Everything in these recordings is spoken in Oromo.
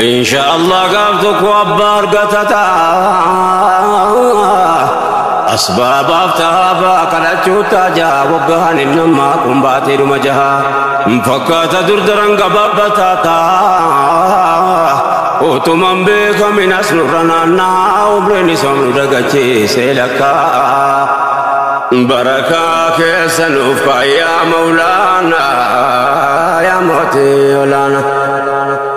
Insha Allah gaaf tokko abbaa argata ta'a. Asbaabaaf taabaa kadhachuu taajaa waggaan hin nammaa kun baatee dhuma jaha. Fakkaata durdaran gabaabbataa ta'a. Utuman beekamin as nurra naannaa umriin isa nu dagachiisee lakkaa. Barakaa keessa nuuf kaayaa maulaana yaa mootii olaanaa.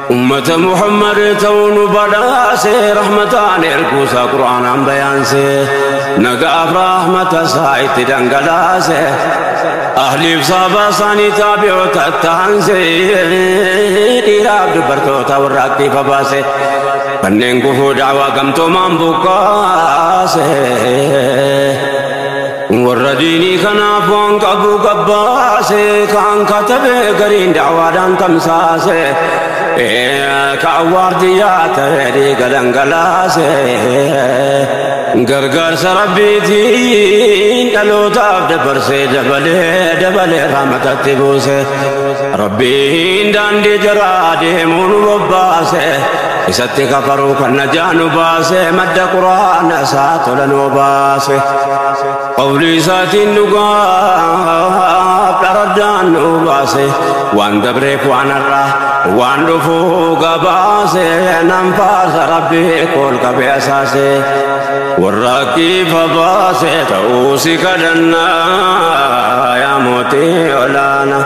Ummata Muhammad ta'uu nu badhaase rahmataan erguusaa Qur'aanaan bayaanse nagaaf rahmata isaa itti dhangalaase ahliif saabaa isaanii taabi'oota taanse dhiiraaf dubartoota warra aktiifa baase kanneen gufuu daawaa gamtoomaan buqqaase. Warra diinii kanaaf waan qabu gabbaase kaan katabe gariin da'waadhaan tamsaase ka awwaardiyyaa ta'e dhiiga dhangalaase gargaarsa rabbiitiin dhalootaaf dabarsee dabalee dabalee raamatatti buuse rabbiin daandii jaraa deemuun bobbaase. Isatti kafaruu kan najaa nu baase madda quraana isaa tola nu baase. Qawlii isaatiin dhugaaf dharaddaan nu baase waan dabreef waan har'aa waan dhufuu gabaase nan faarsa rabbii kool qabee asaase. Warra kiifa baase ta'uu si kadhannaa yaa mootii olaanaa.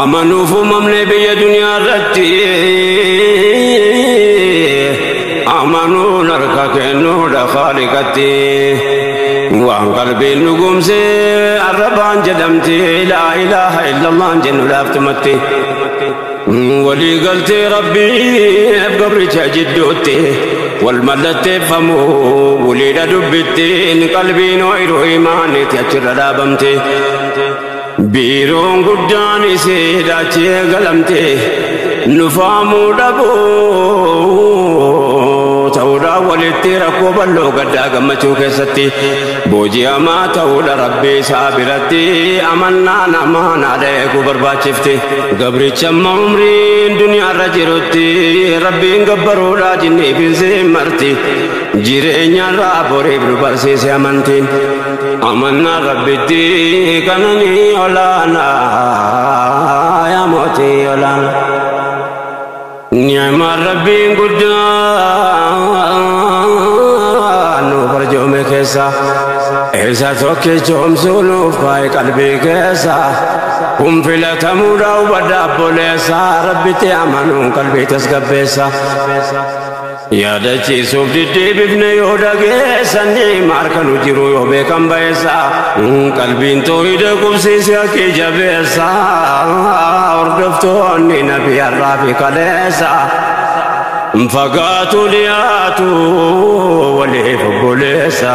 Amanuuf uumamne biyya duniyaa irratti amanuun harka kennuudha khaaliqatti waan qalbiin dhugumse arrabaan jedhamti laa ilaaha illallaan jennu laaftumatti walii galtee rabbiif gabricha jidduutti wal mallatteeffamu waliidha dubbittiin qalbiin ooyiruu imaanitti achirra dhaabamte. Biiroon guddaan isiidha achi eegalamte nufaamuu dhabuu ta'uudhaan walitti rakkoo bal'oo gaddaa gammachuu keessatti booji'amaa ta'uudha rabbi isaa biratti amannaa namaa naadha eeguu barbaachifti gabricha amma umriin duniyaarra jirutti rabbiin gabbaruudha jinni binsi marti jireenyarraa boriif nu barsiise amantiin. Amannaa rabbitti kananii olaanaa yaa mootii olaanaa. Ni'maan rabbiin guddaan nu barjoome keessa isa tokkicha omsuu nuuf kaa'e qalbii keessa kun filatamuudha hubadha abboleessa rabbitti amanuun qalbii tasgabbeessa. Yaadachiisuuf diddeebifne yoo dhageessanne maarka nu jiru yoo beekan bayeessa qalbiin toohida qubsiisi akki jabeessa hordoftoonni nabi har'aa fi kaleessa fagaatu dhiyaatu waliif obboleessa.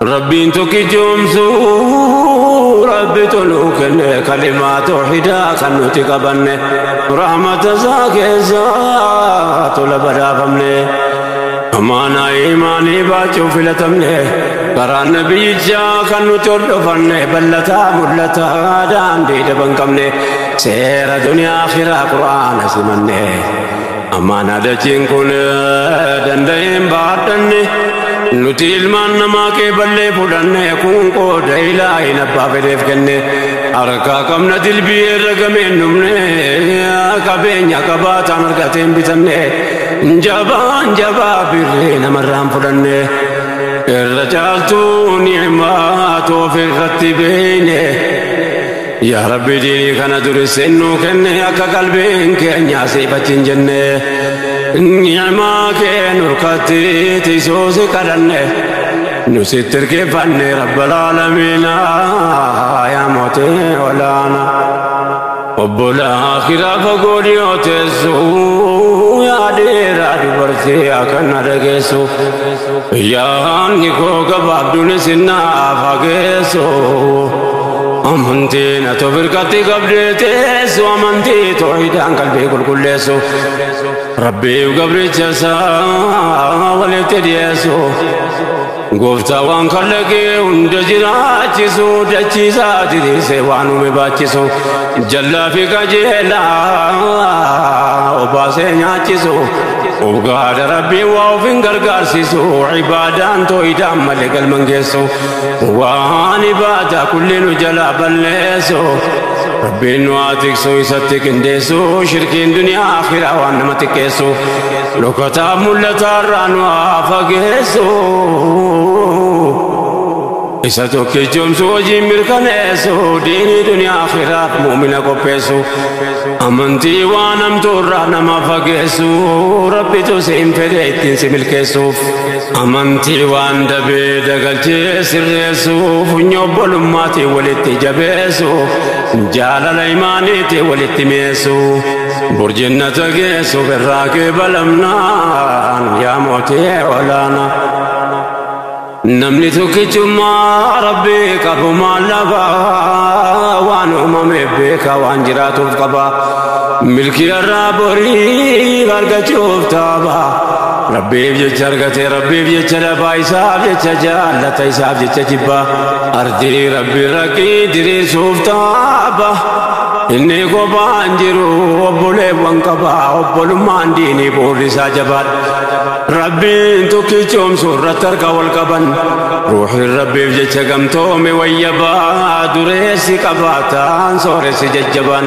Rabbiin tokkichoomsuu Rabbitu nuu kenne kalimaa toohidaa kan nuti qabanne rahmata isaa keessa tola badhaafamne amaanaa imaanii baachuu filatamne karaa nabiyyichaa kan nuti hordofanne ballataa mul'ataa daandii daban qabne seera duniyaa akhiraa qur'aana simanne Amaanaa dachiin kun danda'een baadhanne nuti ilmaan namaa kee ballee fudhanne kun qooda ilaahin abbaa fedheef kenne harkaa qabna dilbii irra gameen dhumne qabeenya qabaataan argateen bitanne jabaan jabaa birree namarraan fudhanne irra caaltuu ni'maa toofe irratti beeyne. Yaa Rabbi diinii kana durisseen nuu kenne akka qalbiin keenyaa siifatti hin jenne ni'imaa kee nurkatti tiisuu si kadhanne nu sitti irkeeffanne rabbal aalamiina yaa mootii olaana obbola akhiraa fagoo dhiyoo teessu yaa dheeraa dubartii akkana dhageessu yaanni koo gabaabduun isin naaf hageessu. Amantiin ati of irratti qabdee teessu amantii toohidaan qalbii qulqulleessu rabbiif gabricha isaa walitti dhiyeessu gooftaa waan kallaqee hunda jiraachisu dachiisaa diriirsee waan uume baachisu jallaa fi qajeelaa obaasee nyaachisu ugaadha rabbii waa of hin gargaarsisu ibaadaan toohidaan malee galman geessu. waan ibaadaa kulli nu jalaa balleessu rabbiin nu haa tiksu isatti qindeessu shirkiin duniyaa akhiraa waan nama xiqqeessu dhokataa mul'ataa irraa nu haa fageessu isa tokkichoomsu hojiin mirkaneessu diinii duniyaa akhiraa muumina qopheessu amantii waan hamtuu irraa nama fageessu rabbitu si hin fedhe ittiin si milkeessuuf Amantii waan dabee dagalchee sirreessuuf funyoo obbolummaati walitti jabeessuuf jaalala imaaniiti walitti meessuuf burjinnata geessuuf irraa kee balamnaan yaa mootee olaanaa. Namni tokkichummaa rabbii qabu maal lafa waan uumame beeka waan jiraatuuf qaba milkii irraa borii argachuuf taaba. Rabbiif jecha argatee rabbiif jecha dhabaa isaaf jecha jaallata isaaf jecha jibba ardii rabbi rakkii diriirsuuf taaba inni kophaan jiru obboleewwan qaba obbolummaan diinii bu'uurri isaa jabaadha rabbiin tokkichoomsu irratti harka wal qaban ruuxin rabbiif jecha gamtoome wayya ba'a dureessi qabaataan sooressi jajjabaan.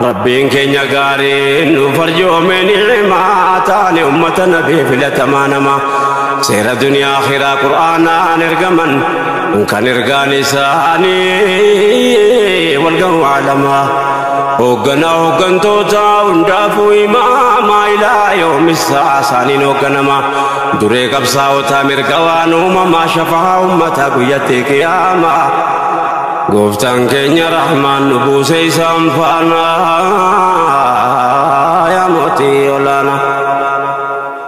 Rabbiin keenya gaariin nuuf arjoome ni'imaa taane ummata nabii filatamaa nama seera duniyaa akhiraa qur'aanaan ergaman kan ergaan isaanii walgahu alamaa hoogganaa hooggantoota hundaafuu imaamaa ilaa yoomissaa isaaniin hoogganama duree qabsaa'otaa mirga waan uumamaa shafaa ummataa guyyatti qiyaamaa Gooftaan keenya rahmaan nu buuse isaan faana yaa mootii olaana.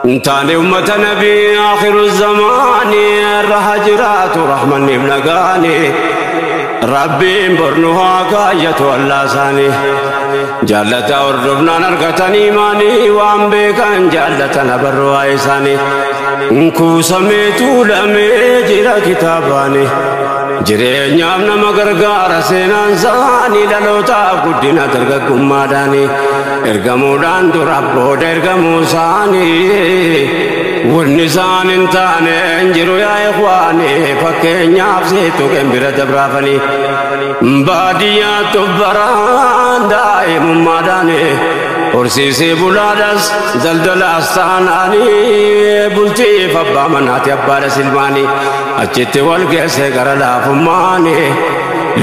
Hin taane ummata nabii akhiru zamaani irra haa jiraatu rahmanniif nagaani. Rabbiin bornu haa kaayyatu allaa isaanii. Jaallataa hordofnaan argatan imaanii waan beekan jaallatan abarru waa isaanii. Kuusamee tuulamee jira kitaabaanii. Jireenyaaf nama gargaara seenaan isaanii dhalootaaf guddina dargaggummaadhaani ergamuudhaan dura booda ergamuu isaanii wanni isaan hin taane hin jiru yaa ikwaani fakkeenyaaf seetu kan bira dabraafanii baadiyyaa tubbaraan daa'imummaadhaani horsiisee bulaadhaas daldalaas taanaanii bultiif abbaa manaati abbaadha silmaanii. Achitti wal geesse gara laafummaani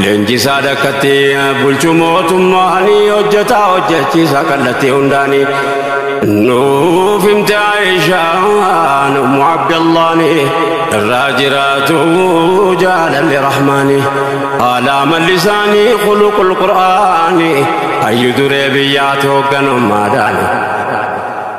leenjisaa dakkatti bulchu mootummaani hojjetaa hojjechiisa kallattii hundaani. Nuuf himte Aishaan ummu Abdallaani irraa jiraatu jaalalli rahmaani. Haalaa mallisaanii khuluqul qur'aani hayyu duree biyyaati hoogganummaadhaani.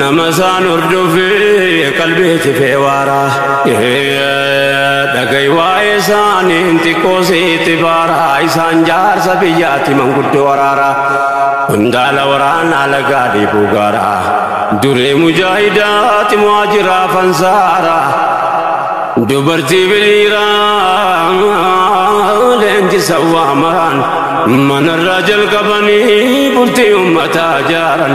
Nama isaan hordofee qalbii tifee waaraa. Dhagahi waa'ee isaaniin xiqqoo sitti baaraa. Isaan jaarsa biyyaatti manguddoo waraaraa. Qondaala waraanaa lagaa dhiibuu gaaraa. Duree mujaahidaatti mo'aa jira fansaaraa. Dubartii biliiraa leenjisa waamaraan manarraa jalqabanii bultii ummataa jaaran.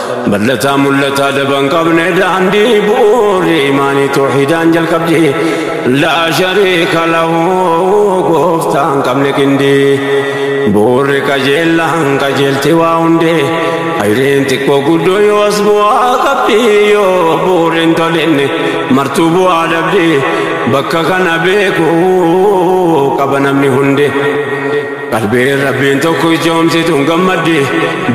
Mallataa mul'ataa daban qabne daandii bu'uuri imaanii toohidaan jalqabdi laa shariika lahu gooftaan qabne qindii bu'uurri qajeellaan qajeelti waa hundee ayreen xiqqoo guddoo yoo as bu'aa qabdi yoo bu'uurriin tolinne martuu bu'aa dhabdi bakka kana beekuu qaba namni hundee. Qalbiin Rabbiin tokko ijoomsitu hin gammaddi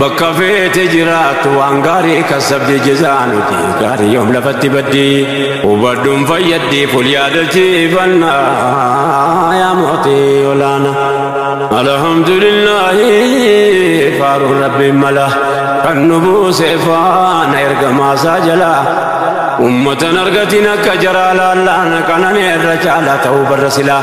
bakka feete jiraattu waan gaarii kassabdi jezaanuti gaarii yoom lafatti baddi hubadhuun fayyaddi ful yaadachiifanna yaa mootii olaana alhamdulillahi faaruun Rabbiin mala kan nu buuse faana ergamaasaa jala ummatan argatiin akka jaraa laallaan kanan irra caalaa ta'uu barra silaa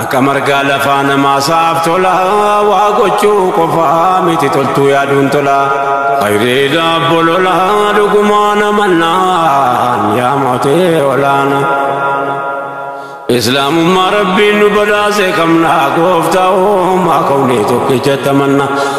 Akka margaa lafaa namaasaaf tola waa gochuu qofaa miti toltuu yaaduun tola. Hayreedha bolola dhugumaa namannaan yaa mootee olaana. Islaamummaa rabbiin nu badhaase qabna gooftaa uumaa kawnee tokkicha tamanna.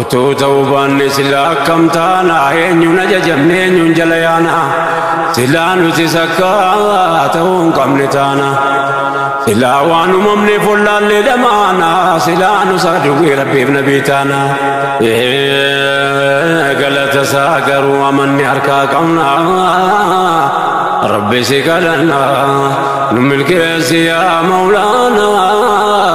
Utuu ta'uu baanne silaa akkam taana eenyuun ajajamne eenyuun jala yaana silaa nuti sakkaa ta'uu hin qabne taana silaa waan uumamne follaallee dhamaana silaa nu saadugii rabbiif nabii taana galata isaa garuu amanne harkaa qabna rabbi si kadhanna nu milkeessi yaa mawlaanaa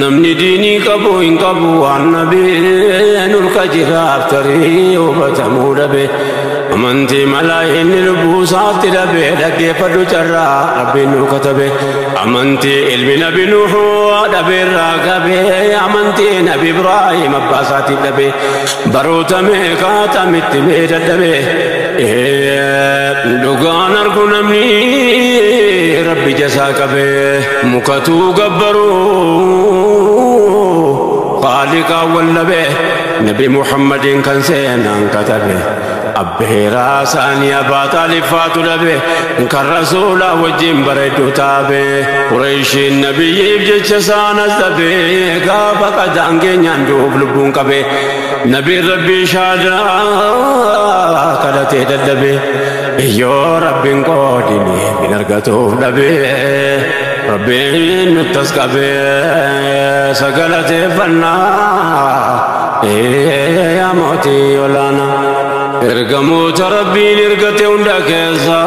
Namni diinii qabu hin qabu waan nabee nurka jiraaf tarii hubatamuu dhabe amantii malaa inni lubbuu isaatti dhabe dhaggeeffadhu carraa rabbiin nu katabe amantii ilmi nabi nuhu dhabe irraa qabe amantii nabi ibraahim abbaa isaatti dhabe baroota meeqaa tamitti mee dadhabe dhugaan argu namni rabbi jasaa qabee. mukatuu gabbaruu qaaliqaa wallabe nabi muhammadiin kan seenaan katabe abbeeraa saanii abbaa xaaliffaatu dhabe kan rasuulaa wajjin bareedduu taabe qureeshiin nabiyyiif jecha saanas dhabe gaafa qadaan keenyaan du'uuf lubbuun qabe nabiin rabbii shaadaa kadhatee dadhabe Yoo rabbiin qoodini hin argatuuf dhabee rabbiin nuttas qabee sagalateeffannaa ee yaa mootii olaanaa. Ergamoota rabbiin ergate hunda keessa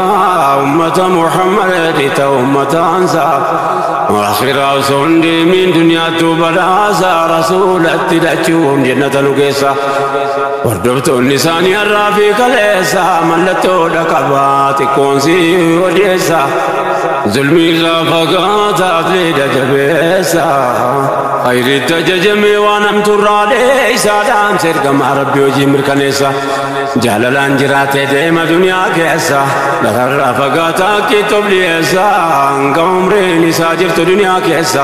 ummata Muhammad dhita ummataansa akhiraa osoo hin deemiin duniyaattuu badhaasa rasuulatti dhachuun jennata nu keessa. Hordoftoonni isaanii har'aa fi kaleessa mallattoodha qaba xiqqoon si odeessa zulmii irraa fagaata atleeda jabeessa hayriitti ajajamee waan hamtuurraa dheessa dhaamsa ergamaa rabbi hojii mirkaneessa jaalalaan jiraatee deema duniyaa keessa gararraa fagaata akkiitti of dhiyeessa hanga umriin isaa jirtu duniyaa keessa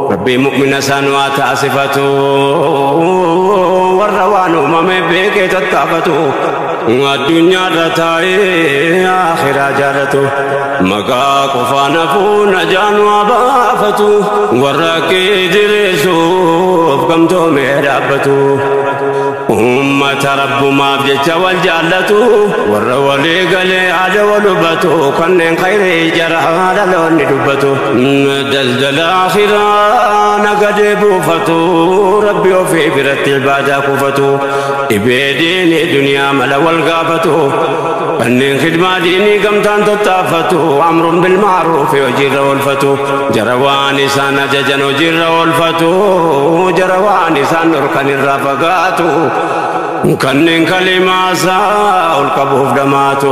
Rabbii mu'mina isaan waa taasifatu warra waan uumame beekee tattaafatu addunyaarra taa'ee akhiraa jaalatu maqaa qofaan hafuu najaan waa baafatu warra akkee jireessuuf gamtoomee dhaabbatu ummata rabbumaaf jecha wal jaallatu warra walii galee aada wal hubatu kanneen khayrii jaraa dhaloonni dubbatu Daldala akhiraa nagadee buufatu rabbi ofii biratti ibaadaa kuufatu dhibee diinii duniyaa mala wal gaafatu kanneen khidmaa diinii gamtaan tattaafatu amruun bilmaaruufi hojiirra oolfatu jara waan isaan ajajan hojiirra oolfatu jara waan isaan dhorkan irraa fagaatu kanneen kalimaasaa ol qabuuf dhamaatu.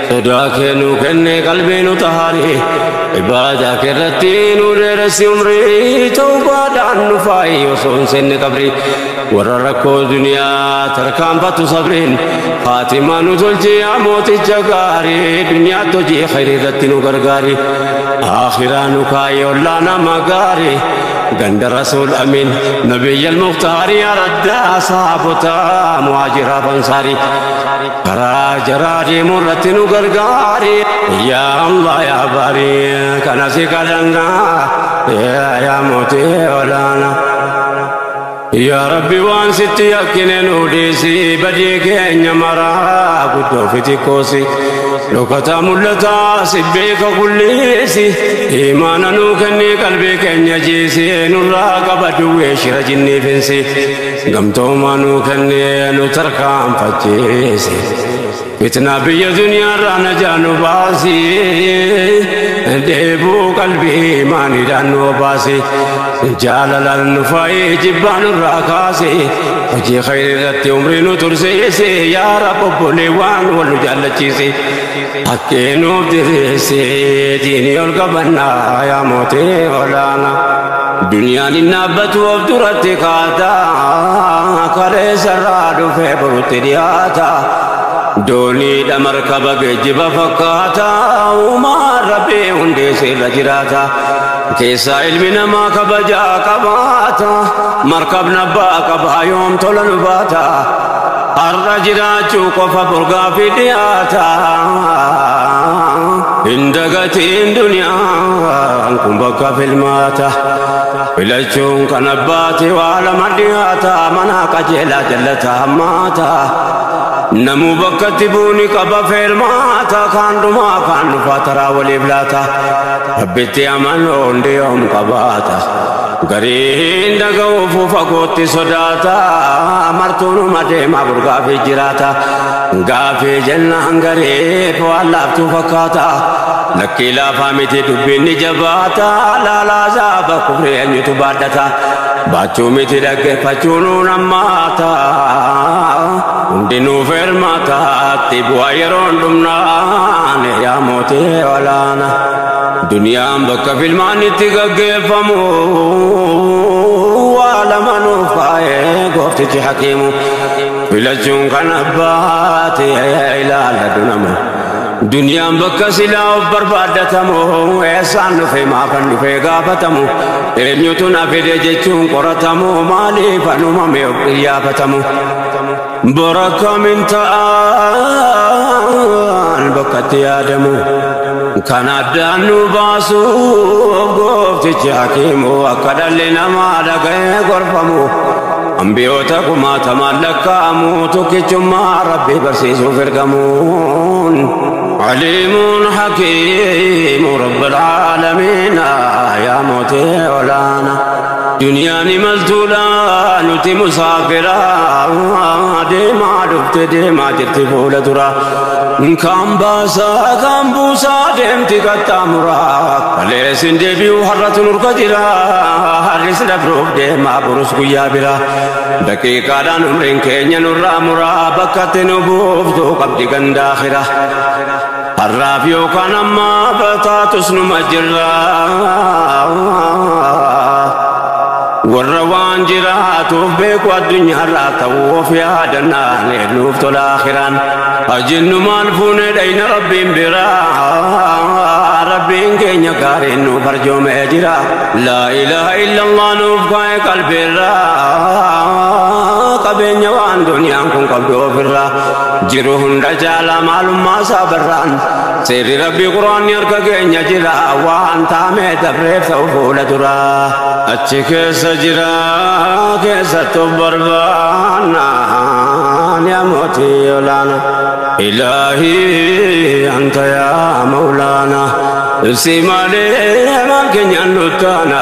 Sodaa kee nu kenne qalbii nu tahaari Ibaadaa kee irratti nu dheeressi umrii Tawbaadhaan nu faayi osoo hin seenne qabri Warra rakkoo duniyaa tarkaanfatu sabriin Haatimaa nu tolchi yaa mooticha gaari Duniyaatti hojii khayrii irratti nu gargaari Aakhiraa nu kaayi ollaa nama gaari Ganda Rasuul Amiin Nabiyyal Mukhtaari Araddaa saabotaa muhaajiraa bansaari Karaa jaraa deemuu irratti nu gargaari yaa Allah yaa bari kana si kadhanna yaa yaa mootii olaana. Yaa Rabbi waan sitti yakkine nu dhiisi badii keenya maraa guddoo fi xiqqoosi. Dhokataa mul'ataa si beeka kulleessi imaana nuu kennee qalbii keenya jiisi nurraa qaba duwwee shira jinniifinsi. Gamtoomaa nuu kennee nu tarkaanfachiisi. Fitnaa biyya duniyaarraa najaa nu baasi. Deebuu qalbii maaniidhaan nu baasi. Jaalalaan nu faayee jibbaa nurraa kaasi. Hojii khayri irratti umrii nu tursiisi. Yaa Rabbi obboleewwan wal nu jaallachiisi. Hakkee nuuf diriirsi diinii ol qabannaa yaa mootii olaana. Duniyaan hin dhaabbatu of duratti kaata kaleessarraa dhufee borutti dhiyaata. Dooniidha markaba geejjiba fakkaata uumaan rabbii hundeessee irra jiraata. Keessaa ilmi namaa kabajaa qabaata markabna abbaa qabaa yoom tola nu baata. Har'a jiraachuu qofa borgaafi dhiyaata. Hin dagatiin duniyaan kun bakka filmaata. Filachuun kan abbaati waa lama dhiyaata. Mana qajeelaa jallata hammaata. Namuu bakkatti buuni qaba feermaata. Kaan dhumaa kaan dhufaa taraa waliif laata. Rabbitti amanoon dhiyoom qabaata gariin dhaga'uuf fagootti sodaata martuunuma deema burgaa fi jiraata gaafii jennaan gariif waan laaftuu fakkaata lakkii laafaa miti dubbiin ni jabaata laalaa zaaba kufrii eenyutu baadhata baachuu miti dhaggeeffachuu nuun ammaata hundinuu fermaataatti bu'aa yeroon dhumnaan yaa mootii olaana. Duniyaan bakka filmaan itti gaggeeffamu waa lama nuuf kaa'ee gooftichi hakiimu filachuun kan abbaati ilaala dunama. Duniyaan bakka silaa of barbaaddatamu eessaan dhufe maafan dhufe gaafatamu eenyutu na fide jechuun qoratamu maaliif anumame of qiyyaafatamu. Bara kamin ta'an bakka itti yaadamu kan addaan nu baasu gooftichi hakiimu akka dhalli namaa dhaga'ee gorfamu ambiyoota kumaatamaan lakkaa'amu tokkichummaa rabbii barsiisuuf ergamuun aliimuun hakiimu rabbil aalamiina yaa mootee olaana. Duniyaan imaltuudha nuti musaafira deemaa dhufte deemaa jirti fuula dura kaan baasaa kaan buusaa deemti qaxxaamura kalees hin deebi'u har'atu nurka jira har'is dabruuf deemaa burus guyyaa bira daqiiqaadhaan umriin keenya nurraa muraa bakkatti nu buuftu qabdi gandaa kira. Har'aaf yookaan amma bataatus numa jirra. Warra waan jiraatuuf beeku addunyaarraa ta'u of yaadannaan nuuf tola akiraan. Ajinnu maal fuune dhayna rabbiin biraa. Rabbiin keenya gaariin nuuf arjoomee jira. Laa ilaaha illallah nuuf kaa'e qalbiirraa. Qabeenya waan duniyaan kun qabdu ofirraa. jiru hunda jaala maalummaa isaa barraan seerri rabbii quraanni harka keenya jira waan taamee dabreef ta'u fuula dura achi keessa jira keessattu barbaanna yaa mootii olaana ilaahii anta yaa mawlaana ibsi malee maal keenyaan nuttaana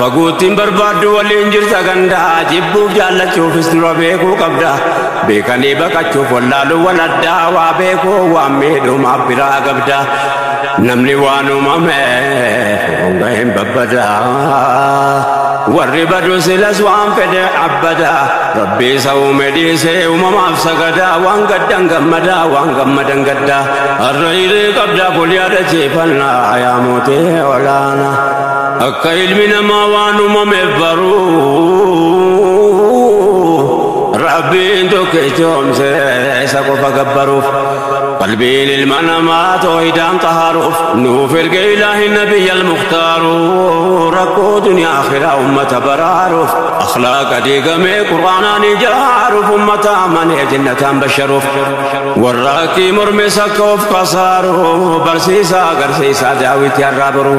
Faguuttiin barbaaddu waliin jirta ganda jibbuuf jaallachuufis dura beekuu qabda beekanii baqachuuf wallaaluu wal addaa waa beekuu waan miidhumaaf biraa qabda namni waan uumame honga hin babbada warri badu silas waan fedhe abbada rabbi isa uume dhiisee uumamaaf sagada waan gaddan gammada waan gammadan gadda har'a hiree qabda kun yaadachiifannaa yaa mootee olaanaa. Akka ilmi namaa waan uumameef baruu rabbiin tokkichoomse isa qofa gabbaruuf qalbiin ilma namaa toohidaan qaharuuf nuuf erge ilaahi nabiyya almuktaaru rakkoo duniyaa akhiraa ummata baraaruuf akhlaaqa diigamee qur'aanaan ijaaruuf ummata amanee jennataan basharuuf warra akkii mormes akka of kasaaru barsiisaa agarsiisaa daawwitii arraa baruu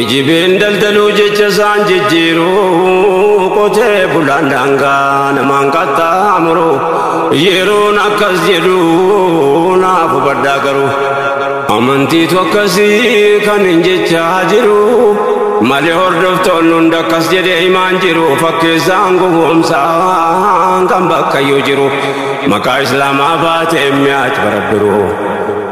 Ijibeen daldaluu jecha isaan jijjiiru qotee bulaan daangaa namaan qaxxaamuru yeroon akkas jedhu naaf hubadhaa garuu amantiitu akkasii kan hin jechaa jiru malee hordoftoonni hunda akkas jedhee himaan jiru fakkeessaan gowwoomsaan kan bakkayyuu jiru maqaa islaamaa baatee mi'aat barabbiru.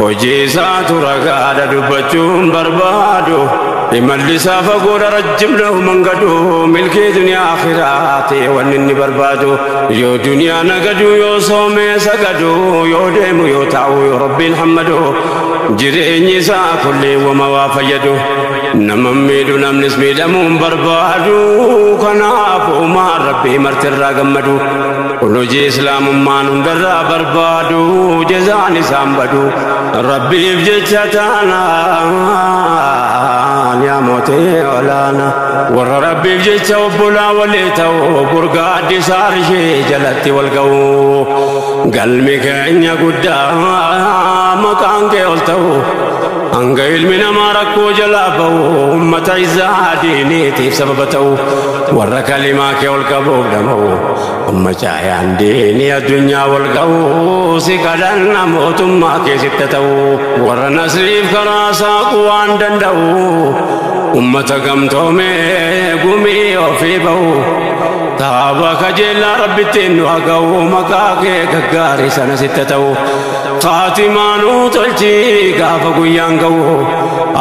Hojii isaatu ragaadha dubbachuun barbaadu imalli isaa fagoodha rajjibna humangadu milkii duniyaa akhiraa ta'e wanni inni barbaadu yoo duniyaa nagadu yoo soomee sagadu yoo deemu yoo taa'u yoo rabbiin hammadu jireenyi isaa kullee wama waa fayyadu nama miidhu namnis miidhamuun barbaadu kanaaf uumaa rabbii martirraa gammadu. Kun hojii islaamummaan hundarraa barbaadu jazaan isaan badu rabbiif jecha taanaan yaa mootee olaana warra rabbiif jecha obbolaa walii ta'u burgaa addisaa ishee jalatti wal ga'u galmi keenya guddaa maqaan kee ol ta'u hanga ilmi namaa rakkoo jalaa ba'u ummata isaa diiniitiif sababa ta'u warra kalimaa kee ol qabuuf dhama'u umma caayaan diinii addunyaa wal ga'u si kadhanna mootummaa kee sitta ta'u warra nasriif karaa saaqu waan danda'u ummata gamtoomee gumii ofii ba'u taaba kajeellaa rabbittiin nu haga'u maqaa kee gaggaarii sana sitta ta'u Faatimaa nu tolchi gaafa guyyaan ga'u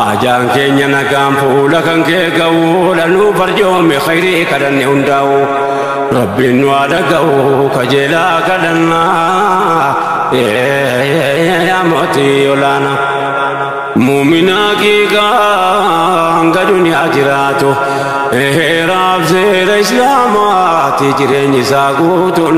Ajaan keenya nagaan fuula kan kee ga'u Lanuu farjoome khayrii kadhanne hundaa'u Rabbiin nu haa dhaga'u kajeelaa kadhannaa Yaa mootii olaanaa Muuminaa kiikaa hanga duniyaa jiraatu Heeraaf seera islaamaati jireenyi isaa guutuun